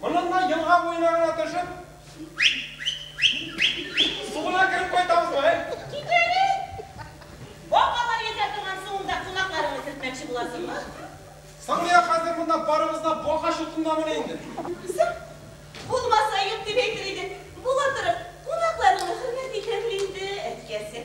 Моннан да елга буена гына төшеп, су гына кереп кайтабызмы, әй? Кит әле! Бабалар йөзә торган суыңда колакларыңны сөртмәкче буласыңмы? Соң нигә хәзер монда барыбыз да бака чутындамыни инде? Соң, булмаса юк дип әйтер идең. Була торып, кунакларыңны хөрмәт итәме инде, әткәсе?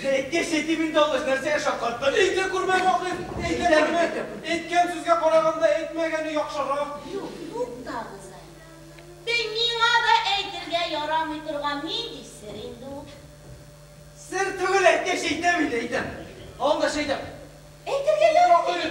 Тереккә чәй дип инде алгач, нәрсәгә шаккаттың? Әйтә күрмә, Вахит, әйтә күрмә. Әйткән сүзгә караганда, әйтмәгәне яхшырак. Юк, туктагыз әле. Бе, миңа да әйтергә ярамый торган нинди сер инде ул? Сер түгел, әйткәч әйтәм инде, әйтәм. Алда чәй дә. Әйтергә ярамый ди.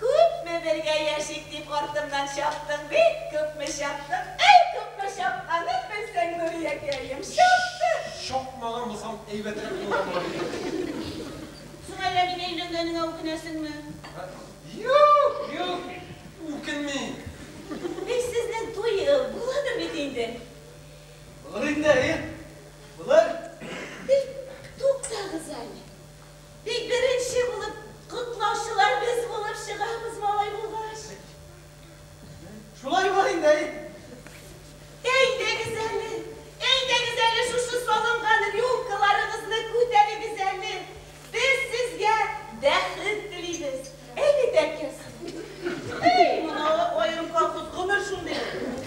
Күпме бергә яшик дип артымнан чаптың бит, күпме чаптың, әй, күпме чапканын белсәң, Нуриякәем, чаптың! Чапмаган булсам, әйбәтрәк булган булыр иде. Соң әллә мин өйләнгәнеңә үкенәсеңме? Ә? Юк, юк, үкенмим. Әй, сезнең туй буладыр бит инде? Булыр инде, әйе, булыр. Әй, туктагыз әле. Тик беренче булып котлаучылар без булып чыгабыз, малай булгач. Шулай була инде, әй. Әйдәгез әле, әйдәгез әле, шушы салынган рюмкаларыгызны күтәрегез әле. Без сезгә бәхет телибез. Әйбит әкияз. Әй, моны аерым колхоз гомер шундый булды.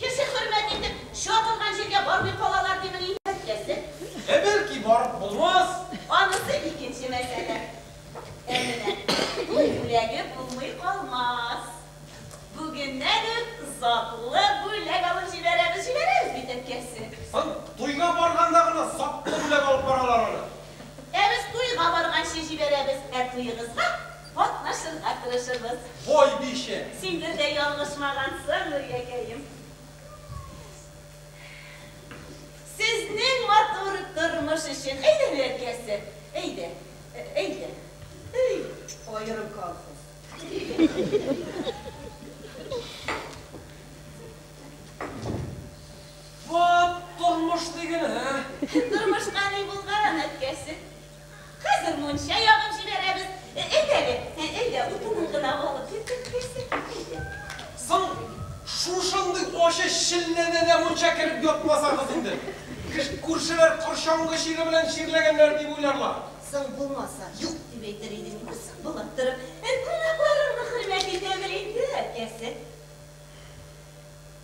Кеше хөрмәт итеп, чабылган җиргә бармый калалар димени? Бәлкем. Ә бәлки барып булмас? Анысы икенче мәсьәлә. Ә менә туй бүләге булмый калмас. Бүгеннән үк затлы бүләк алып җибәрәбез, җибәрәбез бит, әткәсе. Соң туйга барганда гына затлы бүләк алып баралар аны. Ә без туйга барганчы җибәрәбез, ә туегызга. Катнашырга тырышырбыз. Бой бише. Син бер дә ялгышмагансың, Нуриякәем. Сезнең матур тормыш өчен. Әйдә, Нуриякәсе, әйдә, әйдә. Ый, аерым колхоз. Вот тормыш диген, ә? Тормышка ни булган, әткәсе? Хәзер мунча ягып җибәрәбез. Әйдә әле, әйдә, утынын гына алып киттек, әйдә, әйдә. Соң, шушындый ачы челләдә дә мунча кереп ятмасагыз инде. Күршеләр корчаңгы чире белән чирләгәннәр дип уйларлар. Соң булмаса, юк дип әйтер идең, күрсен болак торып. Кунакларыңны хөрмәт итәбез инде, әткәсе.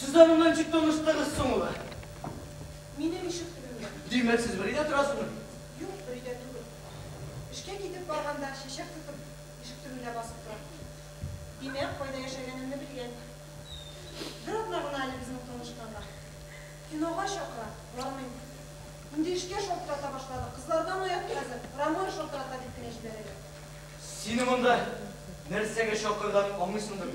Сез дә монда ничек таныштыгыз соң ул? Минем ишек төбемдә. Димәк, сез бер өйдә торасызмы? Юк, бер өйдә түгел. Эшкә китеп барганда, чәчәк тотып, ишек төбендә басып тора. Димәк, кайда яшәгәнемне белгән. Бер атна гына әле безнең танышканга. Кинога чакыра, бармыйм. Инде эшкә шалтырата башлады, кызлардан оят хәзер, Рамоя шалтырата дип кенә җибәрәләр. Сине монда нәрсәгә чакырганын аңлыйсыңдыр?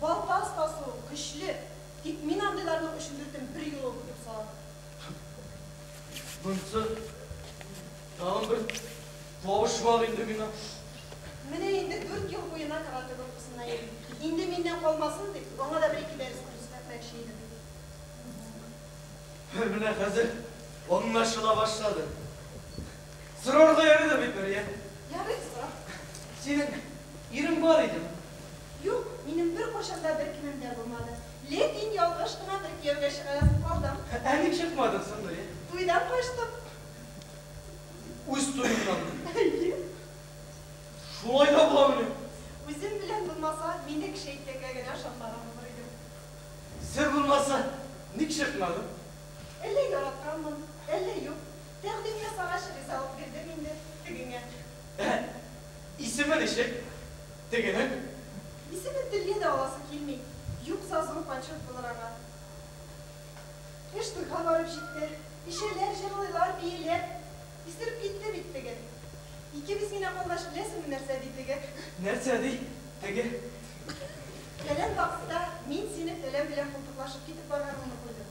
Балта остасы ул, көчле. Тик мин андыйларның өчен бертын бер юлы үкенеп саламын. Монсы тагын бер кавышмак инде миңа. Менә инде дүрт ел буена каратэ группасында йөрим. Инде миннән калмасын дип, аңа да бер-ике дәрес күрсәтмәкче идем. Менә хәзер аңлашыла башлады. Сорарга ярыйдыр бит, Мәрьям? Ярый, сора. Синең ирең бар идеме? Юк, минем беркайчан да бер кемем дә булмады. Ләкин ялгыш кына бер кияүгә чыгарасым калдым. Ә ник чыкмадың соң, Мәрьям? Туйдан качтым. Үз туеңнанмы? Әйе. Шулай да буламыни? Үзем белән булмаса, мин дә кеше әйткәнгә генә ышанмаган булыр идем. Сер булмаса, ник чыкмадың? Әллә яратканмын, әллә юк. Тәкъдим ясагач, ризалык бирдем инде тегеңә. Әһә. Исеме ничек тегенең? Исемен телгә дә аласы килми. Юкса зур почет булыр аңа. Эш туйга барып җитте. Эчәләр, җырлыйлар, бииләр. Исереп китте бит теге. Икебез генә калгач, беләсеңме нәрсә ди теге? Нәрсә ди теге? Фәлән вакытта мин синең энәң белән култыклашып китеп барганыңны күрдем.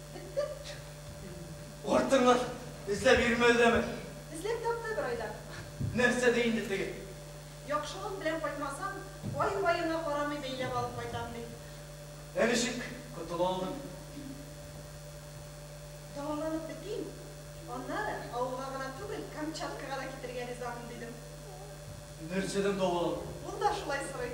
Артыңнан эзләп йөрмә өзәме? Эзләп тапты бер айда. Нәрсә ди инде теге? Яхшылык белән кайтмасам, бай-баеңа карамый бәйләп алып кайтам, ди. Ә ничек котыла алдың? Дәваланып бетим, аннары авылга гына түгел, Камчаткага да китәргә ризамын, дидем. Нәрсәдән дәваландың? Ул да шулай сорый.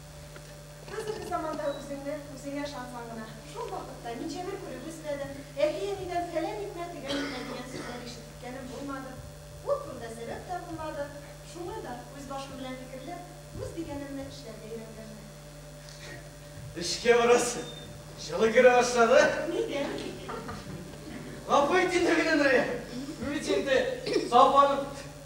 Хәзерге заманда үзеңне үзеңә ышансаң гына, шул вакытта Минҗәмил күреп үсмәдем, әти-әнидән фәлән итмә, төгән итмә дигән сүзләр ишеткәнем булмады. Ул турыда сәбәп тә булмады. Шуңа да, үз башым белән фикерләп, үз дигәнемне эшләргә өйрәнгәнмен. Эшкә барасы җылы керә башлады. Нидән? Гафу ит инде мине, Нурия. Бу бит инде Сафаның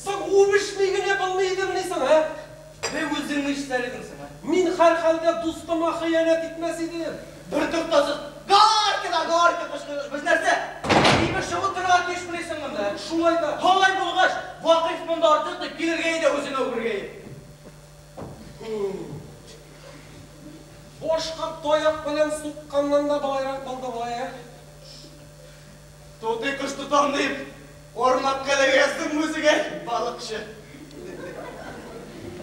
Соң үбешми генә булмый идемени соң, ә? Бе үзең нишләр идең соң, ә? Мин һәрхәлдә дустыма хыянәт итмәс идем. Бертуктаусыз Горько да горько кычкырыш. Без нәрсә, тимер чыбык кырырга тиешмени соң монда, ә? Шулай да. Алай булгач, Вакыйф монда артык дип килергә иде үзенә үбергә ир. Һу-у. Башка таяк белән сукканнан да болайрак булды болай, ә? Тутый кош тотам дип, кармак кәләгәсен мүзегән балыкчы.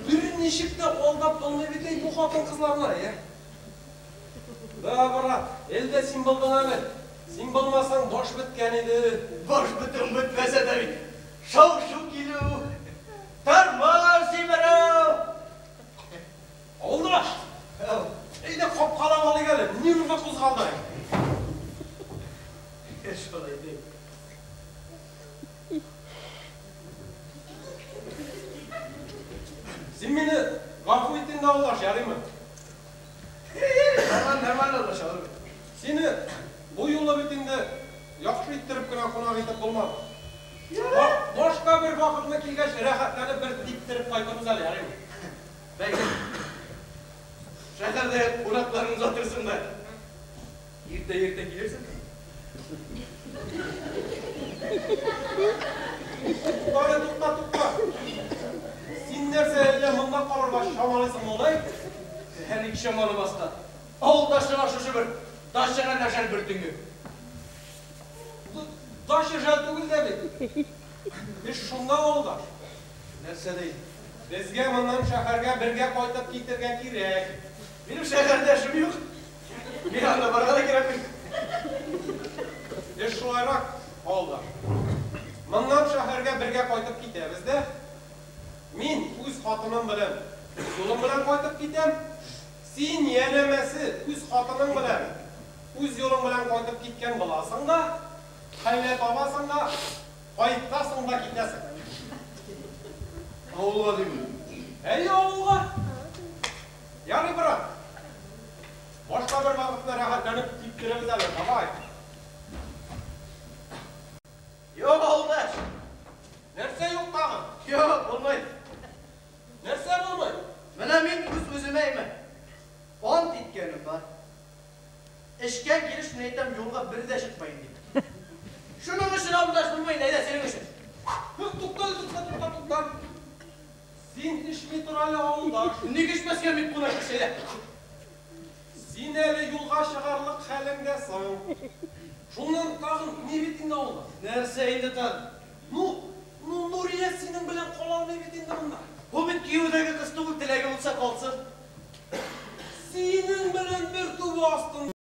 Берничек тә алдап алмый бит әй бу хатын-кызларны, ә? Да, брат, әле дә син булдың әле. Син булмасаң, баш беткән иде. Баш бетүең бетмәсә дә бит, шау-шу килү, тормоз җимерү. Авылдаш! Әйдә, капкалап алыйк әле, нервны кузгалдырыйк. Әйдә, шулай да ит. Син мине гафу ит инде, авылдаш, ярыймы? Нормально, нормально, авылдаш, алып бир. Сине бу юлы бит инде яхшы иттереп кенә кунак итеп булмады. Башка бер вакытны килгәч, рәхәтләнеп бер типтереп кайтырбыз әле, ярыймы? Бәгырем, шәһәрдә кунакларың озатырсың да, иртә-иртә килерсең. Тукта әле, тукта, тукта. Син нәрсә, әллә монда калырга чамалыйсың, малай? Әле ник чамаламаска? Авылдашларга шушы бер дачага да жәл бер төнге. Дача жәл түгел дә бит. Эш шунда, авылдаш. Нәрсә ди? Безгә моннан шәһәргә бергә кайтып китергә кирәк. Минем шәһәрдә эшем юк. Миңа анда барырга да кирәкми. Эш шулайрак, авылдаш. Моннан шәһәргә бергә кайтып китәбез дә. Мин үз хатыным белән, үз улым белән кайтып китәм. Син, янәмәсе, үз хатының белән, үз улың белән кайтып киткән буласың да. Хәйлә табасың да кайтасың да китәсең. Авылга димени? Әйе, авылга. Ярый, брат. Башка бер вакытта рәхәтләнеп типтерербез әле, давай. Юк, авылдаш. Нәрсә юк тагын? Юк, булмый. Нәрсә булмый? Менә мин үз-үземә әймен. Ант иткәнем бар. Эшкә килеш мин әйтәм юлга бер дә чыкмыйм дип. Шуның өчен авылдаш булмыйм, әйдә синең өчен. Юк, туктале, тукта, тукта, тукта. Син эчми тор әле, авылдаш. Ник эчмәскә, бик кунак ич, әйдә. Син әле юлга чыгарлык хәлеңдә соң. Шуннан тагын ни бит инде авылдаш. Нәрсә инде тагын? Ну, ну, Нурия синең белән кала алмый бит инде монда. Бу бит кияүдәге кыз түгел, теләге булса калсын. Синең белән бер түбә астында.